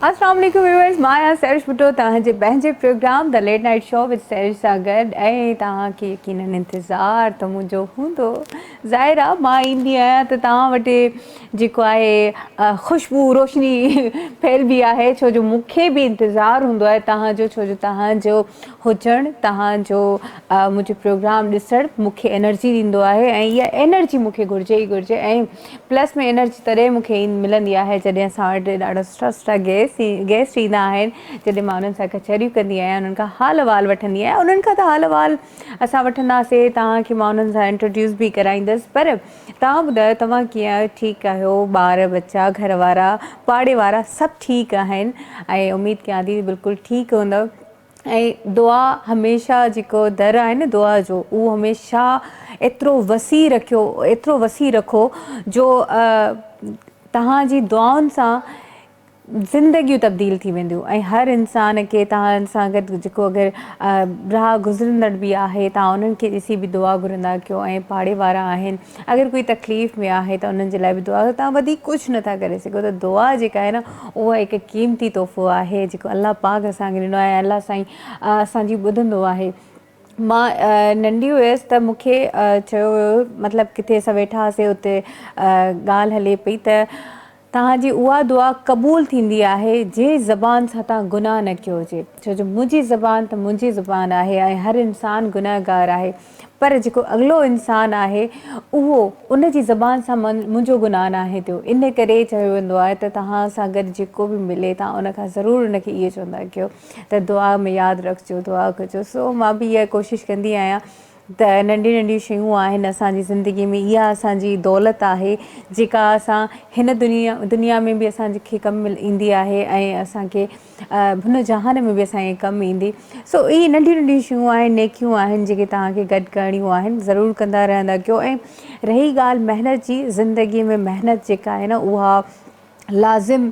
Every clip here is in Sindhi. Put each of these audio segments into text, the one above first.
السلام عليڪم ويورز مان آهيان سرش ڀٽو توهان جي پنهنجي پروگرام ته late night show with Sarish سان گڏ ۽ توهان کي يقيناً انتظار ته منهنجو هوندو ظاهر آهي مان ايندي آهيان ته توهان وٽ جيڪو آهي خوشبو روشني ڦهلبي آهي ڇو جو مون کي به انتظار هوندو آهي توهان جو ڇو جو توهان جو هجڻ توهان جو منهنجو پروگرام ڏسڻ مون کي انرجي ڏيندو آهي ۽ اها انرجي مون کي گهرجي ئي گهرجي ۽ پلس ۾ انرجي تڏهن مون کي ملندي آهي جڏهن اسان وٽ ڏاڍا سٺا سٺا گيسٽ ايندا آهن جڏهن مان انهن سان ڪچهريون ڪندي آهيان انهن کان حال احوال وٺندي آهيان انهن کان ته حال احوال اسان وٺنداسي توهان کي مان انهن سان انٽروڊيوس به ڪرائيندس پر توهان ٻڌايو توهان ڪيئن ٺيڪ آهيو ٻار ٻچا گهر وارا پاڙي وارا سڀ ٺيڪ آهن ۽ اميد ڪيان ٿي بلڪل ٺيڪ هوندؤ. ۽ دعا هميشه جيڪو در آهي نه دعا جو اهو هميشه ايترو وسيع رکيو ايترو وسيع رکو جو تهان جي دعائن سان زندگيون تبديل ٿي وينديون ۽ هر انسان کي تهان سان گڏ جيڪو اگر راهه گذرندڙ به آهي تهان انهن کي ڏسي به دعا گهرندا ڪيو ۽ پاڙي وارا آهن اگر ڪوئي تڪليف ۾ آهي ته انهن جي لاء به دعا ڪريو، توهان وڌيڪ ڪجهه نه ٿا ڪري سگهو ته دعا جيڪا آهي نه اها هڪ قيمتي تحفو آهي جيڪو الله پاڪ اسان کي ڏنو آهي ۽ الله سائين اسان جي ٻڌندو آهي. مان ننڍي هيس ته مون کي چيو ويو هو مطلب ڪٿي اسان ويٺا هئاسين اتي ڳالهه هلي پئي ته. توهان جي اها دعا قبول ٿيندي آهي جنهن زبان سان توهان گناهه نه ڪيو هجي، ڇو جو منهنجي زبان ته منهنجي زبان آهي ۽ هر انسان گنهگار آهي، پر جيڪو اڳلو انسان آهي اهو ان جي زبان سان منهنجو گناهه ناهي ٿيو، ان ڪري چيو ويندو آهي ته توهان سان گڏ جيڪو به ملي توهان ان کان ضرور ان کي اهو چوندا ڪيو ته دعا ۾ ياد رکجو دعا ڪجو سو مان به اها ڪوشش ڪندي آهيان ته ننڍيون ننڍيون شيون آهن اسان جي زندگي ۾ اها اسان جي دولت آهي جيڪا اسان هن دنيا دنيا ۾ به اسان کي ڪم ايندي آهي ۽ اسان کي هن جهان ۾ به اسان کي ڪم ايندي سو اهي ننڍيون ننڍيون شيون آهن نيڪيون آهن جيڪي توهان کي گڏ ڪرڻيون آهن ضرور ڪندا رهندا ڪيو ۽ رهي ڳالهه محنت جي زندگي ۾ محنت جيڪا آهي نه اها لازم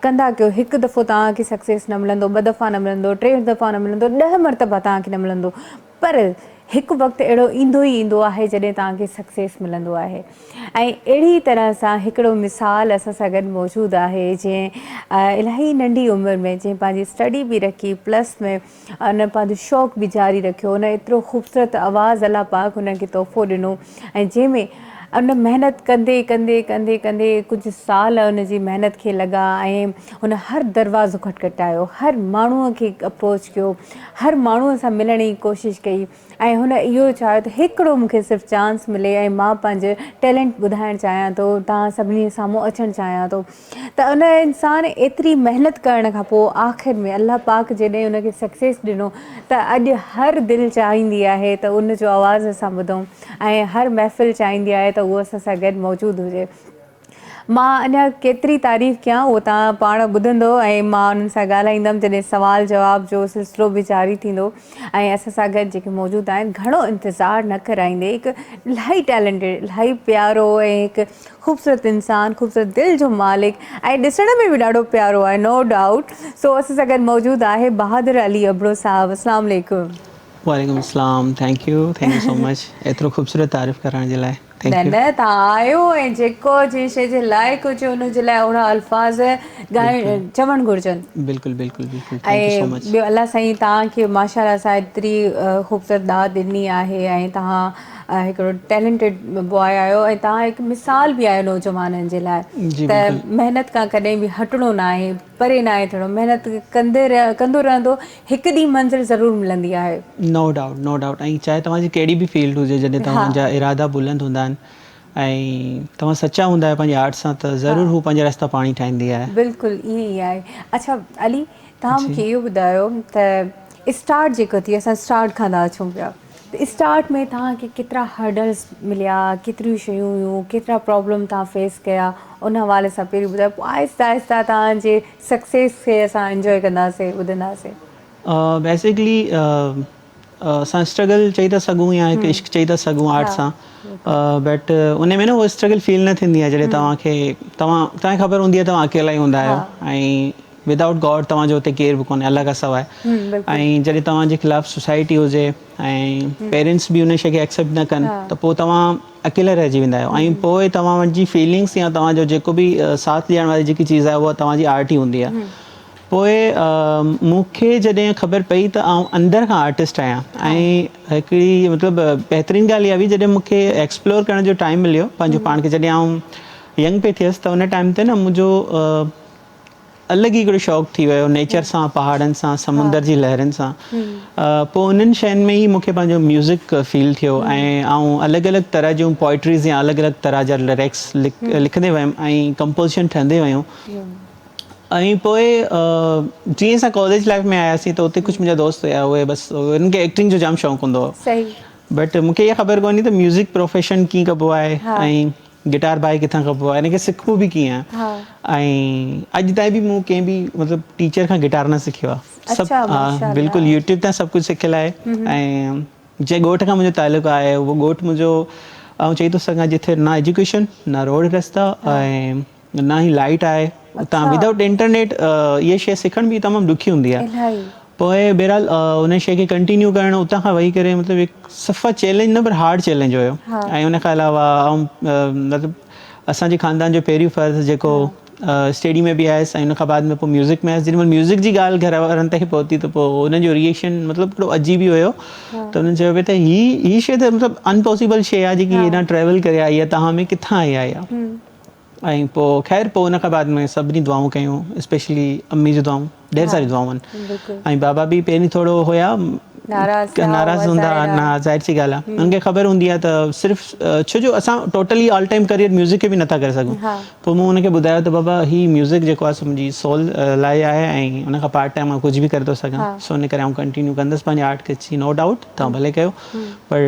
ڪندا ڪيو هڪ دفعو توهان کي سڪسيس نه ملندو ٻه دفعا نه ملندو ٽي دفعا نه ملندو ڏهه مرتبا توهان کي نه ملندو پر هڪ وقت اهڙو ايندو ئي ايندو آهي جڏهن توهان کي سڪسيس ملندو آهي ۽ اهڙي طرح سان هڪڙو مثال اسان سان گڏ موجود آهي جنهن الاهي ننڍي عمر ۾ جنهن پنهنجي اسٽڊي به رکي پلس ۾ ان پنهنجو شوق به جاري رکيو ان ايترو خوبصورت آواز الله پاڪ هن کي تحفو ڏنو ۽ جنهن ۾ ان محنت ڪندي ڪندي ڪندي ڪندي ڪجهه سال ان جي محنت کي لڳا ۽ هن هر دروازو کٽکٽايو، هر ماڻهوء کي اپروچ ڪيو، هر ماڻهوء سان ملڻ جي ڪوشش ڪئي ۽ هن اهو چاهيو ته هڪڙو مون کي صرف چانس ملي ۽ مان پنهنجو ٽيلنٽ ٻڌائڻ چاهيان ٿو، توهان سڀني جي سامهون اچڻ چاهيان ٿو ته ان انسان ايتري محنت ڪرڻ کان پوء آخر ۾ الله پاڪ جڏهن ان کي سڪسيس ڏنو ته اڄ هر دل چاهيندي آهي ته ان جو آواز اسان ٻڌون ۽ هر محفل چاهيندي آهي ته هو اسان سان گڏ موجود هجي. مان اڃا ڪيتري تعريف ڪيان اهو توهان پاڻ ٻڌندو ۽ مان انهن سان ڳالهائيندم جڏهن سوال جواب جو سلسلو به جاري ٿيندو ۽ اسان سان گڏ جيڪي موجود آهن گهڻو انتظار نه ڪرائيندي هڪ الاهي ٽيلنٽيڊ الاهي پيارو ۽ هڪ خوبصورت انسان خوبصورت دل جو مالڪ ۽ ڏسڻ ۾ به ڏاڍو پيارو آهي نو ڊائوٽ سو اسان سان گڏ موجود آهي بهادر علي ابڙو صاحب اسلام عليڪم. وعليڪم اسلام thank you thank you so much ايترو خوبصورت تعارف ڪرڻ جي لاء. نه نه تهان آهيو ۽ جيڪو جنهن شيء جي لائق هجي ان جي لاء اهڙا الفاظ ڳائڻ چوڻ گهرجن. بلڪل بلڪل بلڪل ٿينڪ يو سو ۽ مچ. ٻيو الله سائين تهان کي ماشاء الله سان ايتري خوبصورت ڏات ڏني آهي ۽ تهان هڪڙو ٽيلنٽيڊ بواء آهيو ۽ تهان هڪ مثال به آهيو نوجوانن جي لاء جي ته بلڪل. محنت کان ڪڏهن به هٽڻو ناهي. پري ناهي ٿيڻو محنت ڪندي ڪندو رهندو هڪ ڏينهن منزل ضرور ملندي آهي. نو ڊائوٽ نو ڊائوٽ ۽ چاهي توهان جي ڪهڙي به فيلڊ هجي جڏهن توهان جا ارادا بلند هوندا آهن ۽ توهان سچا هوندا آهيو پنهنجي آرٽ سان ته ضرور هو پنهنجا رستا پاڻ ئي ٺاهيندي آهي. بلڪل ائين ئي آهي اڇا علي توهان مونکي اهو ٻڌايو ته اسٽارٽ جيڪو ٿي اسان اسٽارٽ کان ٿا اچون پيا. ته اسٽارٽ ۾ توهان کي ڪيترا هرڊلز مليا، ڪيتريون شيون هيون، ڪيترا پرابلم توهان فيس ڪيا، ان حوالي سان پهرين ٻڌايو پوء آهستي آهستي توهان جي سڪسيس کي اسان انجوء ڪنداسين ٻڌنداسين. بيسڪلي اسان اسٽرگل چئي ٿا سگهون يا هڪ عشق چئي ٿا سگهون آرٽ سان بٽ ان ۾ نه هوء اسٽرگل فيل نه ٿيندي آهي جڏهن توهان کي توهان توهان کي خبر هوندي آهي توهان اڪيلا ئي هوندا آهيو ۽ Without God توهان جو اتي ڪير به ڪونهي الله کان سواء ۽ جڏهن توهان جي خلاف سوسائٽي هجي ۽ پيرينٽس به ان شيء کي ايڪسيپٽ نه ڪن ته پوء توهان اڪيلا رهجي ويندا آهيو ۽ پوء توهان جي فيلنگس يا توهان جو جيڪو به ساٿ ڏيڻ واري جيڪي چيز آهي اها توهان جي آرٽ ئي هوندي آهي پوء مون کي جڏهن خبر پئي ته آئون اندر کان آرٽسٽ آهيان ۽ هڪڙي مطلب بهترين ڳالهه اها هئي جڏهن مون کي ايڪسپلور ڪرڻ جو ٽائيم مليو پنهنجو پاڻ کي جڏهن آئون ينگ پئي ٿيس ته ان ٽائيم تي نه منهنجو الڳ ئي هڪڙو شوق ٿي ويو نيچر سان پهاڙن سان سمنڊ جي لهرن سان پوء انهن شين ۾ ئي مون کي پنهنجو ميوزڪ فيل ٿيو ۽ آئون الڳ الڳ طرح جون پوئٽريز يا الڳ الڳ طرح جا لريڪس لکندي ويم ۽ ڪمپوزيشن ٺهندي ويون ۽ پوء جيئن اسان ڪاليج لائيف ۾ آياسين ته اتي ڪجهه منهنجا دوست هيا اهي بس انهن کي ايڪٽنگ جو جام شوق هوندو هو بٽ مون کي اها خبر ڪونهي ته ميوزڪ پروفيشن ڪيئن ڪبو آهي ۽ گٽار بائي ڪٿان کپبو آ ان کي سکبو به ڪيئن آ ۽ اڄ تائين به مون ڪنهن به مطلب ٽيچر کان گٽار نه سکيو آ سڀ بلڪل يوٽيوب تان سڀ ڪجھ سکيل آهي ۽ جنهن ڳوٺ کان منهنجو تعلق آهي اهو ڳوٺ منهنجو آئون چئي ٿو سگهان جتي نه ايجوڪيشن نه روڊ رستا ۽ نه ئي لائيٽ آهي اتان ودائوٽ انٽرنيٽ اها شئي سکڻ به تمام ڏکي هوندي آ پوء بهرحال ان شيء کي ڪنٽينيو ڪرڻ اتان کان وهي ڪري مطلب هڪ صفا چئلينج نه پر هارڊ چئلينج هيو ۽ ان کان علاوه آئون مطلب اسان جي خاندان جو پهريون فرض جيڪو اسٽيڊي ۾ به آيس ۽ ان کان بعد ۾ پوء ميوزڪ ۾ آيس جيڏي مهل ميوزڪ جي ڳالهه گهر وارن تائين پهتي ته پوء انهن جو ريئيڪشن مطلب هڪڙو عجيب ئي هيو ته انهن چيو پئي ته هي هي شيء ته مطلب انپاسيبل شيء آهي جيڪي هيڏانهن ٽريول ڪري آئي آهي توهان ۾ ڪٿان آئي آهي اها ۽ پوء خير پوء ان کان بعد ۾ سڀني دعائون ڪيون اسپيشلي امي جون دعائون ڍير ساريون دعائون آهن ۽ بابا به پهرين ٿورو هيا ناراض هوندا ها ظاهر سي ڳالهه آهي انهن کي خبر هوندي آهي ته صرف ڇو جو اسان totally all time career music کي به نٿا ڪري سگهون پوء مون انهن کي ٻڌايو ته بابا هي ميوزڪ جيڪو آهي سو منهنجي سول لاء آهي ۽ ان کان پارٽ ٽائيم مان ڪجهه به ڪري ٿو سگهان سو ان ڪري آئون ڪنٽينيو ڪندس پنهنجي آرٽ کي نو ڊائوٽ توهان ڀلي ڪيو پر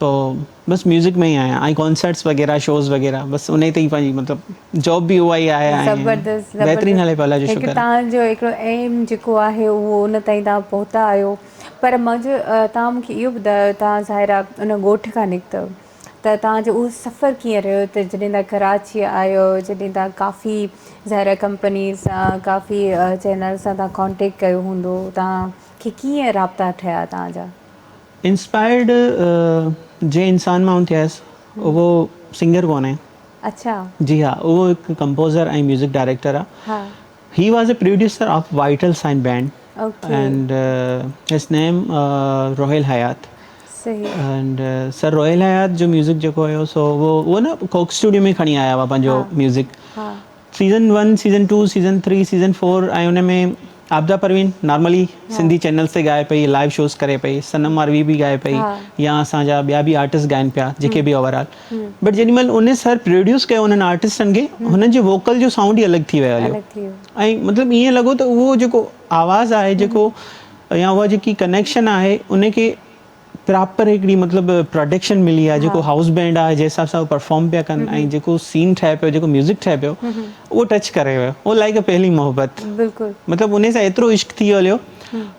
تو بس ميوزڪ ۾ ئي آهيان ۽ ڪانسرٽس وغيره شوز وغيره بس انهي تي ئي پنهنجي مطلب جاب به اها ئي آهي ۽ بهترين هلي پيو الله جو شڪر هڪ تهان جو هڪڙو ايم جيڪو آهي اهو ان تائين تهان پهتا آهيو پر منهنجو تهان مونکي اهو ٻڌايو تهان ظاهرا ان ڳوٺ کان نڪتؤ ته تهان جو اهو سفر ڪيئن رهيو ته جڏهن تهان ڪراچي آيو جڏهن تهان ڪافي ظاهرا ڪمپنيز سان ڪافي چينل سان تهان ڪانٽيڪٽ ڪيو هوندو تهان کي ڪيئن رابطا ٺهيا تهان جا انسپائرڊ جنهن انسان مان ٿيس اهو سنگر ڪونهي. اڇا. جي ها اهو هڪ ڪمپوزر ۽ ميوزڪ ڊائريڪٽر آ. ها. He was a producer of Vital Signs band and his name Rohail Hyatt. صحيح. اينڊ سر روهيل حيات جو ميوزڪ جيڪو هيو سو اهو نه ڪوڪ اسٽوڊيو ۾ کڻي آيا هئا پنهنجو ميوزڪ. ها. Season one, season two, season three, season four ۽ ان ۾ عابده پروين نارملي سنڌي چينلز تي ڳائي پئي، لائيو شوز ڪري پئي، صنم ماروي به ڳائي پئي يا اسان جا ٻيا به آرٽسٽ ڳائين پيا جيڪي به اوور آل بٽ جيڏي مهل انهن سر پروڊيوس ڪيو انهن آرٽسٽن کي هنن جي ووڪل جو سائونڊ ئي الڳ ٿي ويو هليو ۽ مطلب ائين لڳو ته اهو جيڪو آواز آهي جيڪو يا اها جيڪي ڪنيڪشن آهي ان کي پراپر هڪڙي مطلب پراڊڪشن ملي آهي جيڪو هائوس بينڊ آهي جنهن حساب سان هو پرفارم پيا ڪن ۽ جيڪو سين ٺهي پيو جيڪو ميوزڪ ٺهي پيو اهو ٽچ ڪري ويو اهو لائيڪ اي پهلي محبت مطلب انهي سان ايترو عشق ٿي هليو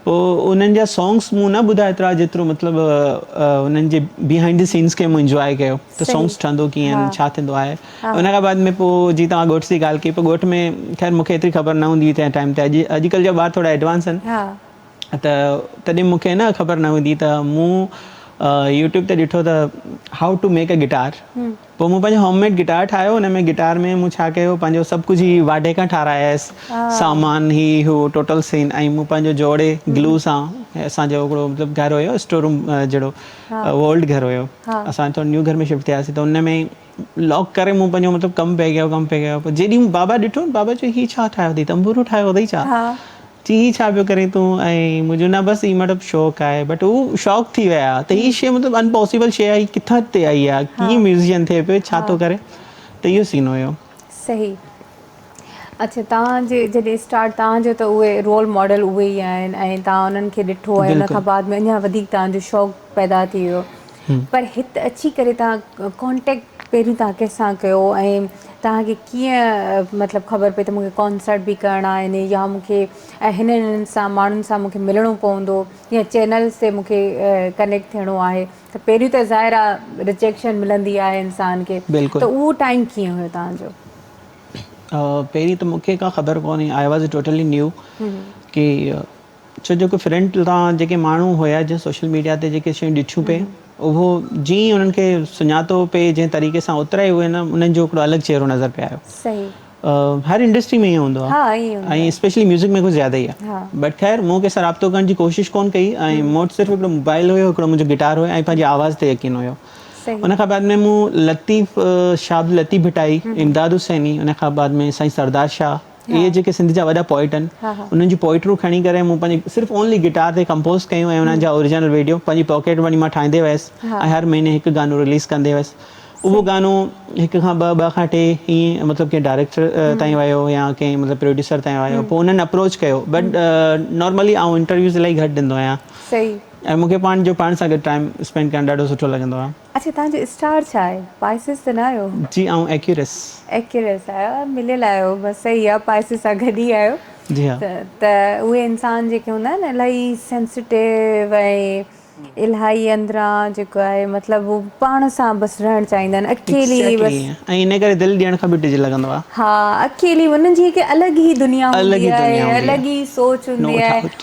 پوء انهن جا سانگس مون نه ٻڌا ايترا جيترو مطلب انهن جي بيهائنڊ دي سينس کي مون انجواء ڪيو ته سانگس ٺهندو ڪيئن ڇا ٿيندو آهي ان کان بعد ۾ پوء جي توهان ڳوٺ جي ڳالهه ڪئي پوء ڳوٺ ۾ خير مون کي ايتري خبر نه هوندي هئي تنهن ٽائيم تي اڄ اڄڪلهه جا ٻار ٿورا ايڊوانس آهن ته تڏهن مون کي نه خبر نه هوندي ته مون يوٽيوب تي ڏٺو ته how to make a guitar پوء مون پنهنجو هوم ميڊ گٽار ٺاهيو ان ۾ گٽار ۾ مون ڇا ڪيو پنهنجو سڀ ڪجهه هي واڍي کان ٺارايس سامان هي هو ٽوٽل سين ۽ مون پنهنجو جوڙي گلو سان اسان جو هڪڙو مطلب گهر هيو اسٽور روم جهڙو اهو اولڊ گهر هيو اسان ٿورو نيو گهر ۾ شفٽ ٿياسين ته ان ۾ لاڪ ڪري مون پنهنجو مطلب ڪم پئي ڪيو ڪم پئي ڪيو جيڏي مون بابا ڏٺو بابا چيو هي ڇا ٺاهيو اٿئي تنبورو ٺاهيو اٿئي ڇا چي هي ڇا پيو ڪرين تون ۽ مون چيو نه بس هي مطلب شوق آهي بٽ هو شوق ٿي ويا ته هي شيء مطلب ان پاسيبل شيء آهي ڪٿان هتي آئي آهي ڪيئن ميوزيشن ٿئي پيو ڇا ٿو ڪري ته اهو سين هيو صحيح اڇا توهان جي جڏهن اسٽارٽ توهان جو ته اهي رول ماڊل اهي ئي آهن ۽ توهان انهن کي ڏٺو آهي ان کان بلڪل بعد ۾ اڃا وڌيڪ توهان جو شوق پيدا ٿي ويو هم پر هت اچي ڪري توهان ڪانٽيڪٽ پهرين توهان ڪنهن سان ڪيو ۽ توهان کي ڪيئن مطلب خبر پئي ته مون کي ڪانسرٽ به ڪرڻا آهن يا مون کي ۽ هنن هنن سان ماڻهن سان مون کي ملڻو پوندو يا چينلس تي مون کي ڪنيڪٽ ٿيڻو آهي ته پهريون ته ظاهر آ رجيڪشن ملندي آهي انسان کي ته بلڪل اهو ٽائم ڪيئن هيو توهان جو پهرين ته مونکي ڪا خبر ڪونهي آء واز ٽوٽلي نيو ڪي ڇو جو ڪي فرنٽ لا جيڪي ماڻهو هيا جي سوشل ميڊيا تي جيڪي شيون ڏٺيون پي اهو جي انهن کي سڃاتو پي جي طريقي سان اوترا ئي هو نه انهن جو هڪڙو الڳ چهرو نظر پي آيو صحيح هر انڊسٽري ۾ هوندو آ ها اهي هوندو آ ۽ اسپيشلي ميوزڪ ۾ ڪو زياده ئي آ بٽ خير مون کي سرابتو ڪرڻ جي ڪوشش ڪون ڪئي ۽ مون وٽ صرف هڪڙو موبائل هيو هڪڙو منهنجو گٽار هيو ۽ پنهنجي آواز تي يقين هيو صحيح. ان کان بعد ۾ مون لطيف شاهه عبداللطيف ڀٽائي، امداد حسيني، ان کان بعد ۾ سائين سردار شاهه اهي ها. جيڪي سنڌ جا وڏا پوئٽ آهن ها ها. انهن جون پوئٽريون کڻي ڪري مون پنهنجي صرف اونلي گٽار تي ڪمپوز ڪيون ۽ انهن جا اوريجنل ويڊيو پنهنجي پاڪيٽ مڻي مان ٺاهيندي ويس ها. ۽ هر مهيني هڪ گانو رليز ڪندي ويس اهو صحيح. گانو هڪ کان ٻه ٻه کان ٽي ائين مطلب ڪنهن ڊائريڪٽر تائين ويو يا ڪنهن مطلب پروڊيوسر تائين ويو پوء انهن اپروچ ڪيو بٽ نارملي آئون انٽرويوز الاهي گهٽ ڏيندو آهيان صحيح. ۽ مونکي پاڻ جو پاڻ سان گڏ ٽائيم اسپينڊ ڪرڻ ڏاڍو سٺو لڳندو آ. اڇا تنهنجو اسٽار ڇا آهي پائسس ته نه آهيو. جي آئون ايڪيورس. ايڪيورس آهيو مليل آهيو بس صحيح آ پائسس سان گڏ ئي آهيو جي ها. ته اهي انسان جيڪي هوندا آهن الاهي سينسٽيو ۽ الاهي اندران جيڪو آهي مطلب هو پاڻ سان بس رهڻ چاهيندا آهن اڪيلي بس. ايڪزيڪٽلي ائين ۽ انهي ڪري دل ڏيڻ کان به ڊڄ لڳندو آ. ها اڪيلي انهن جي هڪ الڳ ئي دنيا هوندي آهي الڳ ئي سوچ هوندي آهي.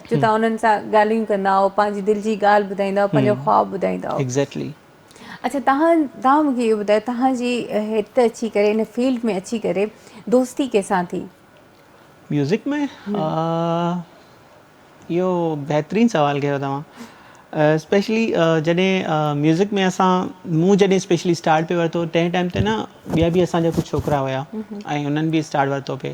جو تهان انهن سان ڳالهيون ڪندا آهو پنهنجي دل جي ڳالهه ٻڌائيندا آهو پنهنجا خواب ٻڌائيندا آهو Exactly. اڇا تهان تهان مونکي اهو ٻڌايو تهان جي هت اچي ڪري ان فيلڊ ۾ اچي ڪري دوستي ڪنهن سان ٿي؟ ميوزڪ ۾ اهو بهترين سوال ڪيو توهان اسپيشلي جڏهن ميوزڪ ۾ اسان مون جڏهن اسپيشلي اسٽارٽ پي ورتو تنهن ٽائيم تي نه ٻيا به اسان جا ڪجهه ڇوڪرا هيا ۽ انهن به اسٽارٽ ورتو پي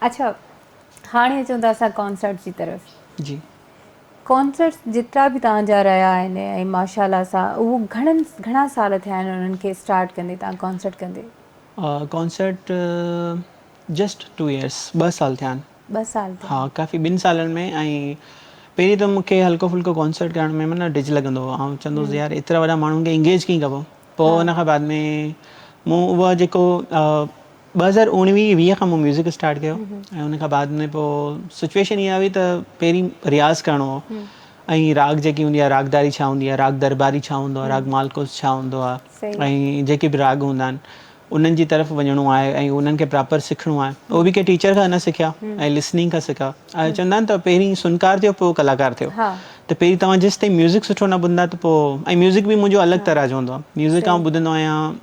اڇا هاڻي اچون ٿا اسان ڪانسرٽ جي طرف جي ڪانسرٽ جيترا به توهان جا رهيا آهن ۽ ماشاءالله سان اهو گهڻن گهڻا سال ٿيا آهن انهن کي اسٽارٽ ڪندي توهان ڪانسرٽ ڪندي ڪانسرٽ جسٽ ٽو ايئرس ٻه سال ٿيا آهن ٻه سال ٿيا ها ڪافي ٻن سالن ۾ ۽ پهرين ته مونکي هلڪو ڦلڪو ڪانسرٽ ڪرڻ ۾ معنيٰ ڊج لڳندو هو آئون چوندو هوس يار ايترا وڏا ماڻهن کي انگيج ڪيئن ڪبو پوء ان کان بعد ۾ مون اهو جيڪو ٻه هزار اوڻويهه ويهه کان مون ميوزڪ اسٽارٽ ڪيو ۽ ان کان بعد ۾ پوء سچويشن اها هئي ته پهرين رياض ڪرڻو هو ۽ راڳ جيڪي هوندي آهي راڳداري ڇا هوندي آهي راڳ درٻاري ڇا هوندو آهي راڳ مالڪوس ڇا هوندو آهي ۽ جيڪي به راڳ هوندا آهن انهن جي طرف وڃڻو آهي ۽ انهن کي پراپر سکڻو آهي اهو به ڪنهن ٽيچر کان نه سکيا ۽ لسننگ کان سکيا ۽ چوندا آهن ته پهرين سنڪار ٿيو پوء ڪلاڪار ٿيو ته پهرين توهان جيسين تائين ميوزڪ سٺو نه ٻڌندا ته پوء ۽ ميوزڪ به منهنجو الڳ طرح جو هوندو آهي ميوزڪ آئون ٻڌندو آهيان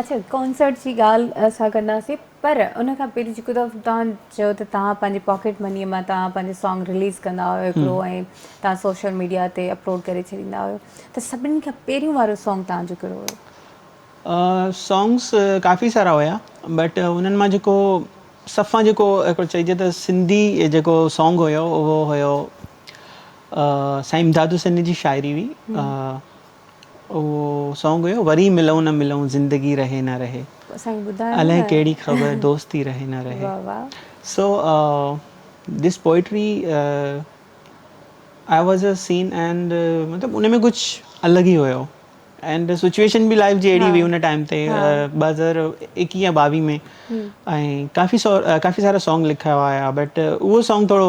اچا ڪانسرٽ جي ڳالهه اسان ڪنداسين پر ان کان پهرين جيڪو ته تان چيو ته تان پنهنجي پاڪيٽ مني مان تان پنهنجي سانگ ريليز ڪندا هيو هڪڙو ۽ تان سوشل ميڊيا تي اپلوڊ ڪري ڇڏيندا هيو ته سڀني کان پهريون وارو سانگ تان جو ڪهڙو هيو سانگس ڪافي سارا هيا بٽ انهن مان جيڪو سڀ کان جيڪو هڪڙو چئجي ته سنڌي جيڪو سانگ هيو اهو هيو سائين امداد حسين جي شاعري هئي اهو سونگ هيو وري ملئون نه ملئون زندگي رهي نه رهي اسانکي ٻڌايو نه الئه ڪهڙي خبر دوستي رهي نه رهي واھ واھ so this poetry I was a scene and مطلب ان ۾ ڪجھ الڳ ئي هيو اينڊ سچويشن به لائف جي اهڙي هئي ان ٽائيم تي ٻه هزار ايڪيهه يا ٻاويهه ۾ ۽ ڪافي سارا سونگ لکيا هيا بٽ اهو سونگ ٿورو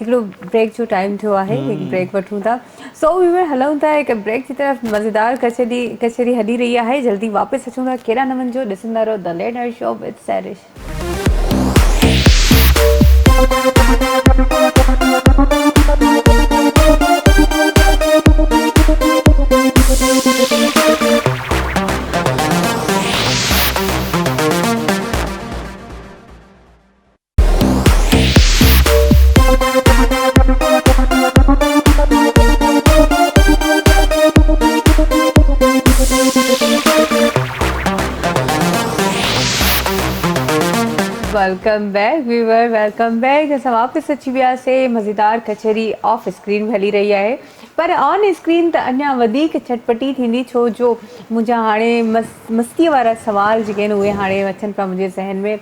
هڪڙو بريڪ جو ٽائيم ٿيو آهي هڪ بريڪ وٺون ٿا سو ويور هلون ٿا هڪ بريڪ جي طرف مزيدار ڪچهري ڪچهري هلي رهي آهي جلدي واپس اچون ٿا ڪيڏا نه وڃجو ڏسندا رهو The Late Night Show with Sarish welcome back viewer welcome back اسان واپس اچي وياسين مزيدار ڪچهري آف اسڪرين به هلي رهي آهي پر آن اسڪرين ته اڃا وڌيڪ چٽپٽي ٿيندي ڇو جو منهنجا هاڻي مستيء وارا سوال جيڪي آهن اهي هاڻي اچن پيا منهنجي ذهن ۾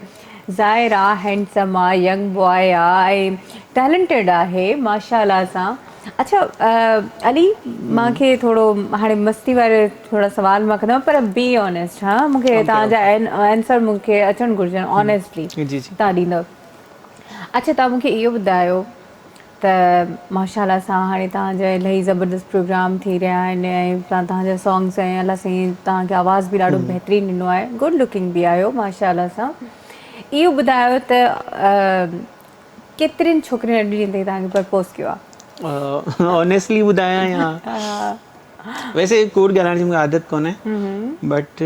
ظاهر آ هينڊسم آ ينگ باء آ ۽ ٽيلنٽيڊ آهي ماشاء الله سان اڇا علي مان کي ٿورو هاڻي مستي واري ٿورا سوال مان ڪندو پر بي آنيسٽ ها مون کي تان جا آنسر مون کي اچڻ گهرجن آنيسٽلي تان ڏيندو اڇا تان مون کي اهو ٻڌايو ته ماشاءالله سان هاڻي توهان جا الائي زبردست پروگرام ٿي رهيا آهن ۽ سان توهان جا سانگس ۽ الله سائين توهان کي آواز به ڏاڍو بهترين ڏنو آهي گڊ لوڪنگ به آهيو ماشاءالله سان اهو ٻڌايو ته ڪيترين ڇوڪرين اڄ ڏينهن تائين توهان کي پرپوز ڪيو آهي آنيسٽلي ٻڌايان يا ويسي ڪوڙ ڳالهائڻ جي مون کي عادت ڪونهي بٽ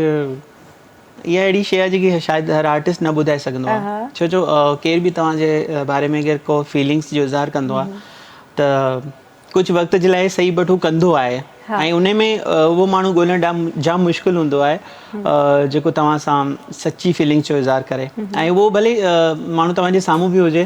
اها اهڙي شيء آهي جيڪي شايد هر آرٽسٽ نه ٻڌائي سگهندو آهي ڇو جو ڪير به توهان جي باري ۾ اگر ڪو فيلنگس جو اظهار ڪندو آهي ته ڪجهه وقت جي لاء سهي بٽ هو ڪندو آهي ۽ ان ۾ اهو ماڻهو ڳولڻ ڏام جام مشڪل هوندو آهي جيڪو توهان سان سچي فيلنگس جو اظهار ڪري ۽ اهو ڀلي ماڻهو توهان جي سامهون به هجي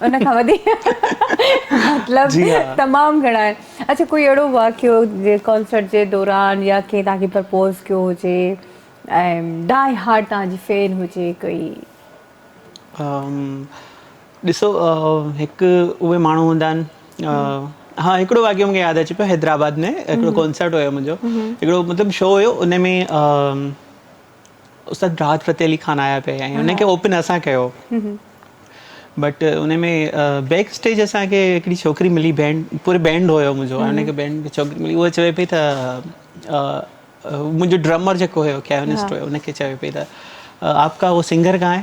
ان کان وڌيڪ مطلب تمام گهڻا آهن اڇا ڪوئي اهڙو واقعو جي ڪانسرٽ جي دوران يا ڪنهن توهان کي پرپوز ڪيو هجي ۽ ڊائي هارٽ توهان جي فين هجي ڪوئي ڏسو هڪ اهي ماڻهو هوندا آهن ها هڪڙو واقعو مونکي ياد اچي پيو حيدرآباد ۾ هڪڙو ڪانسرٽ هيو منهنجو هڪڙو مطلب شو هيو ان ۾ استاد راحت فتح علي خان آيا پي ۽ انهن کي اوپن اسان ڪيو بٽ ان ۾ بيڪ اسٽيج اسان کي هڪڙي ڇوڪري ملي بينڊ پوري بينڊ هيو منهنجو ان کي بينڊ کي ڇوڪري ملي هو چوي پي ته منهنجو ڊرمر جيڪو هيو ڪيونسٽ هيو ان کي چوي پي ته آپ ڪا هو سنگر ڪهان هي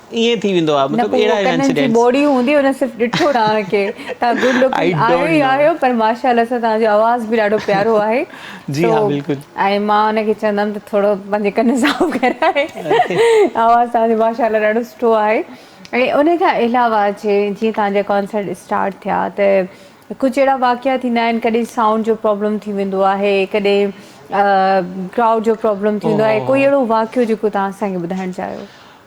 ائين ٿي ويندو آهي مطلب اهڙا اهڙا انسيڊنٽس نه ڪنن جي ٻوڙي هوندي ان صرف ڏٺو توهان کي توهان گڊ لوڪنگ آهيو ئي آهيو پر ماشاءالله سان توهان جو آواز به ڏاڍو پيارو آهي تو ۽ مان ان کي چوندم ته ٿورو پنهنجي ڪن صاف ڪراء آواز توهان جو ماشاءالله ڏاڍو سٺو آهي ۽ ان کان علاوه جي جيئن توهان جا ڪانسرٽ اسٽارٽ ٿيا ته ڪجهه اهڙا واقعا ٿيندا آهن ڪڏهن سائونڊ جو پرابلم ٿي ويندو آهي ڪڏهن ڪرائوڊ جو پرابلم ٿيندو آهي ڪوئي اهڙو واقعو جيڪو توهان اسان کي ٻڌائڻ چاهيو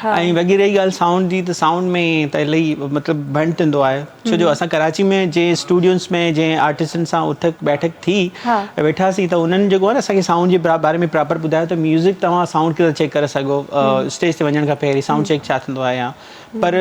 ها. ۽ وڳي رهي ڳالهه سائونڊ جي ته سائونڊ ۾ ته الائي مطلب ڀنڊ ٿيندو آهي ڇو جو اسان ڪراچي ۾ جنهن اسٽوڊيوز ۾ جنهن آرٽسٽن سان اٿڪ بيٺڪ ٿي ها. ويٺاسين ته انهن جيڪو آهي نه اسان کي سائونڊ جي باري ۾ پراپر ٻڌايو ته ميوزڪ توهان سائونڊ ڪيئن ٿا چيڪ ڪري سگهو اسٽيج تي وڃڻ کان پهرين سائونڊ چيڪ ڇا ٿيندو آهي يا پر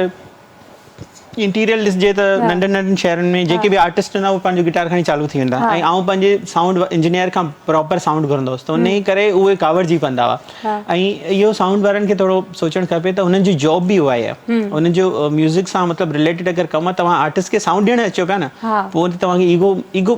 انٽيريل ڏسجي ته ننڍن ننڍن شهرن ۾ جيڪي به آرٽسٽ هوندا اهي پنهنجو گٽار کڻي چالو ٿي ويندا ۽ آئون پنهنجي سائونڊ انجنيئر کان پراپر سائونڊ گهرندو هوس ته انهي ڪري اهي ڪاوڙجي پوندا هئا ۽ اهو سائونڊ وارن کي ٿورو سوچڻ کپي ته انهن جي جاب به اها ئي آهي انهن جو ميوزڪ سان مطلب رليٽيڊ اگر ڪم آهي توهان آرٽسٽ کي سائونڊ ڏيڻ اچو پيا نه پوء ته توهان کي ايگو ايگو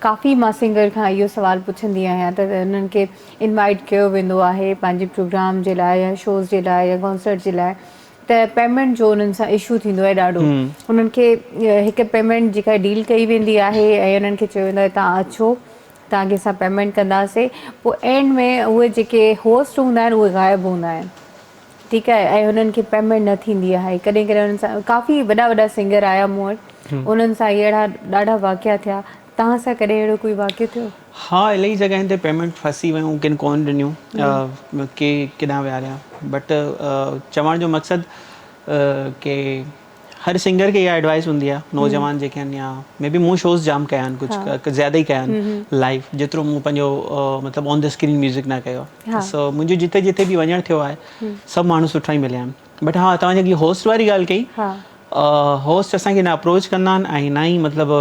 ڪافي مان سنگر کان اهو سوال پڇندي آهيان ته انهن کي انوائيٽ ڪيو ويندو آهي پنهنجي پروگرام جي لاء يا شوز جي لاء يا ڪانسرٽ جي لاء ته پيمينٽ جو انهن سان اشو ٿيندو آهي ڏاڍو انهن کي هڪ پيمينٽ جيڪا ڊيل ڪئي ويندي آهي ۽ انهن کي چيو ويندو آهي تان اچو تان کي اسان پيمينٽ ڪنداسين پوء اينڊ ۾ اهي جيڪي هوسٽ هوندا آهن اهي غائب هوندا آهن ٺيڪ آهي ۽ انهن کي پيمينٽ نه ٿيندي آهي ڪڏهن ڪڏهن انهن سان ڪافي وڏا وڏا سنگر آيا مون وٽ انهن سان اهي اهڙا ڏاڍا واقعا ٿيا توهان سان ڪڏهن اهڙو ڪوئي واقعو ٿيو؟ ها الائي جڳهين تي پيمينٽ ڦاسي ويون ڪن ڪون ڏنيون ڪي ڪيڏانهن ويهاريا بٽ چوڻ جو مقصد ڪي هر سنگر کي اها ايڊوائيس هوندي آهي نوجوان جيڪي آهن يا مي بي مون شوز جام ڪيا آهن ڪجھ ڪجھ زياده ئي ڪيا آهن لائيو جيترو مون پنهنجو مطلب آن دي اسڪرين ميوزڪ نه ڪيو آهي سو منهنجو جتي جتي به وڃڻ ٿيو آهي سڀ ماڻهو سٺا ئي مليا آهن بٽ ها توهان جيڪي هوسٽ واري ڳالهه ڪئي هوسٽ اسان کي نه اپروچ ڪندا آهن ۽ نه ئي مطلب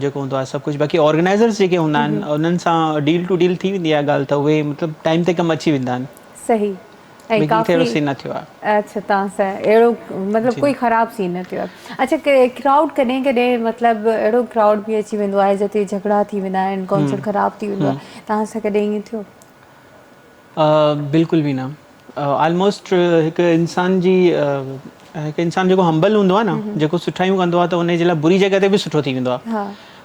جيڪو هوندو آهي سڀ ڪجھ باقي آرگنائيزرس جيڪي هوندا آهن انهن سان ڊيل ٽو ڊيل ٿي ويندي آهي ڳالهه ته اهي مطلب ٽائيم تي ڪم اچي ويندا آهن صحيح ائين بگي ڪافي ڪهڙو سين نه ٿيو آهي اڇا توهان سان اهڙو مطلب جي ڪوئي خراب سين نه ٿيو آهي اڇا ڪي ڪرائوڊ ڪڏهن ڪڏهن مطلب اهڙو ڪرائوڊ به اچي ويندو آهي جتي جهگڙا ٿي ويندا آهن ھمم ڪانسرٽ خراب ٿي ويندو ھمم آهي توهان سان ڪڏهن ائين ٿيو آ بلڪل به نه آلموسٽ هڪ انسان جي هڪ انسان جيڪو همبل هوندو آهي نه جيڪو سٺايون ڪندو آهي ته ان جي لاء بري جڳهه تي به سٺو ٿي ويندو آهي ھا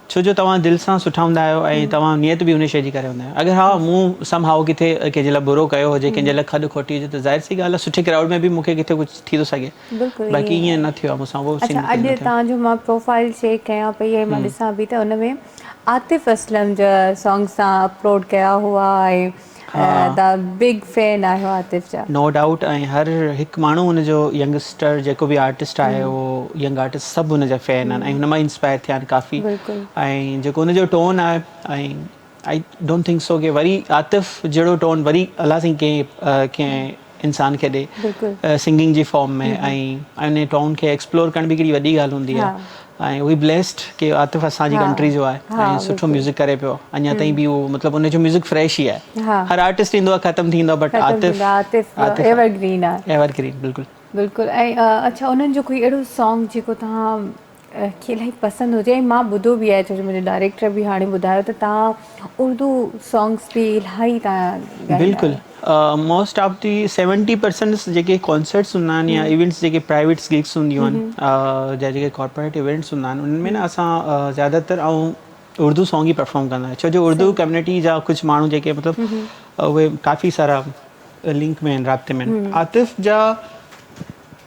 ڇو جو توهان دل سان سٺا هوندا آهيو ۽ توهان نيت به ان شيء جي ڪري هوندا آهيو. اگر ها مون سم هائو ڪٿي ڪنهن جي لاء برو ڪيو هجي، ڪنهن جي لاء کڏ کوٽي هجي ته ظاهر سي ڳالهه آهي سٺي ڪرائوڊ ۾ به مون کي ڪٿي ڪجهه ٿي ٿو سگهي. باقي ائين نه ٿيو آهي مون سان اهو سين ڪڏهن نه ٿيو. اچا اڄ توهان جو مان پروفائيل چيڪ ڪيان پئي ۽ مان ڏسان پئي ته ان ۾ عاطف اسلم جا سانگس توهان اپلوڊ ڪيا هئا ۽ ها تان بگ فين آهيو عاطف جا. نو ڊائوٽ ۽ هر هڪ ماڻهو هن جو ينگسٽر جيڪو به آرٽسٽ آهي اهو ينگ آرٽسٽ سڀ هن جا فين آهن ۽ هن مان انسپائر ٿيا آهن ڪافي ۽ جيڪو هن جو ٽون آهي ۽ آئي ڊونٽ ٿنڪ سو ڪي وري عاطف جهڙو ٽون وري الله سائين ڪنهن ڪنهن انسان کي ڏي سنگنگ جي فارم ۾ ۽ انهي ٽون کي ايڪسپلور ڪرڻ به ڪيڏي وڏي ڳالهه هوندي آهي ۽ وي بليسڊ ڪي عاطف اسان جي ڪنٽري جو آهي ۽ سٺو ميوزڪ ڪري پيو اڃا تائين به اهو مطلب ان جو ميوزڪ فريش ئي آهي هر آرٽسٽ ايندو آهي ختم ٿي ويندو آهي but Atif Atif evergreen آهي ايور گرين بلڪل بلڪل ۽ اڇا انهن جو ڪوئي اهڙو سانگ جيڪو توهان کي الائي پسند هجي ۽ مان ٻڌو به آهي ڇو جو منهنجي ڊائريڪٽر به هاڻي ٻڌايو ته تهان اردو سانگس به الائي تهان ڳائيندا بلڪل most of the seventy percent جيڪي ڪانسرٽس هوندا آهن يا ايونٽس جيڪي پرائيويٽس گيگس هونديون آهن جا جيڪي ڪارپوريٽ ايونٽس هوندا آهن انهن ۾ نه اسان زياده تر آئون اردو سانگ ئي پرفارم ڪندا آهيون ڇو جو اردو ڪميونٽي جا ڪجهه ماڻهو جيڪي مطلب اهي ڪافي سارا لنڪ ۾ آهن رابطي ۾ آهن عاطف جا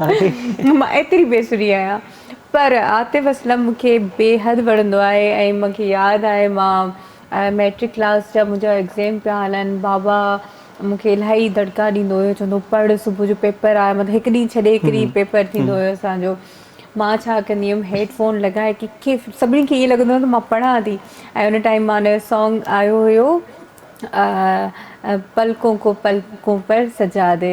مان ايتري بي سري آهيان پر عاطف اسلم مون کي بيحد وڻندو آهي ۽ مون کي ياد آهي مان ميٽرڪ ڪلاس جا منهنجا ايگزيم پيا هلن بابا مون کي الاهي دڙڪا ڏيندو هيو چوندو هو پڙهه صبح جو پيپر آ مطلب هڪ ڏينهن ڇڏي هڪ ڏينهن پيپر ٿيندو هيو اسان جو مان ڇا ڪندي هيم هيڊ فون لڳائي ڪيکي سڀني کي ائين لڳندو هو ته مان پڙهان ٿي ۽ ان ٽائيم مان هنجو سانگ آيو هيو پلڪون ڪو پلڪون پر سجا دي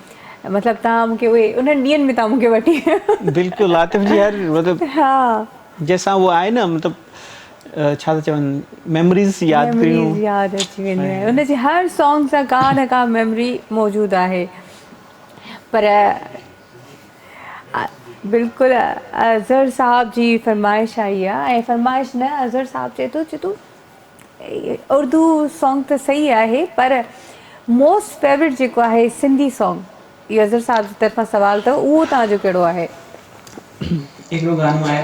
مطلب توهان مون کي اهي انهن ڏينهن ۾ توهان مون کي وٺي ويا هو. بلڪل عاطف جي هر مطلب جنهن سان هو آهي نه مطلب ڇا ٿا چون ميموريز ياد ڪريون ميموريز ياد اچي وينديون آهن ان جي هر سانگ سان ڪا نه ڪا ميموري موجود آهي پر بلڪل اظهر صاحب جي فرمائش آئي آهي ۽ فرمائش نه اظهر صاحب چئي ٿو چئي ٿو اردو سانگ ته صحيح آهي پر موسٽ فيورٽ جيڪو آهي سنڌي سانگ اهو اظهر صاحب جي طرفان سوال اٿو اهو توهان جو ڪهڙو آهي. هڪڙو گانو آهي.